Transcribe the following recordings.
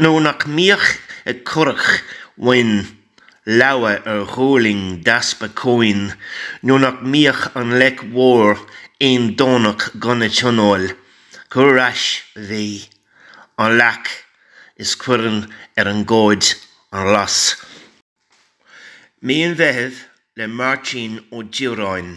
nó nach mbíodh ag currach amháin leaba ar dhuirling d'easpa cuain, nó nach mbíodh an leic mhór aon Domhnach gan a tionól, cuir ar ais, a mhí, an leac is cuireann ar an gcomhad an ghlas. Mí an Mheithimh le Máirtín Ó Direáin.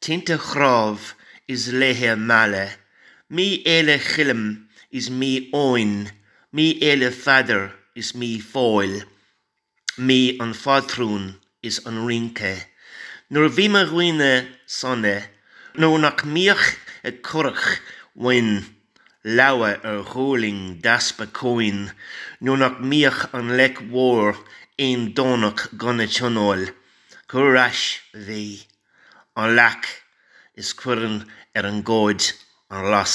Tinte chnámh is laethe meala, mí fhéile Choilm is mí Eoin, mí fhéile Pheadair is mí Phóil, mí an phátrúin is an rince. Nuair a bhí mo dhaoine sona, nó nach mbíodh ag currach amháin leaba ar dhuirling d'easpa cuain, nó nach mbíodh an leic mhór aon Domhnach gan a tionól, cuir ar ais a mhí. an leac is cuireann ar an gcomhad an ghlas.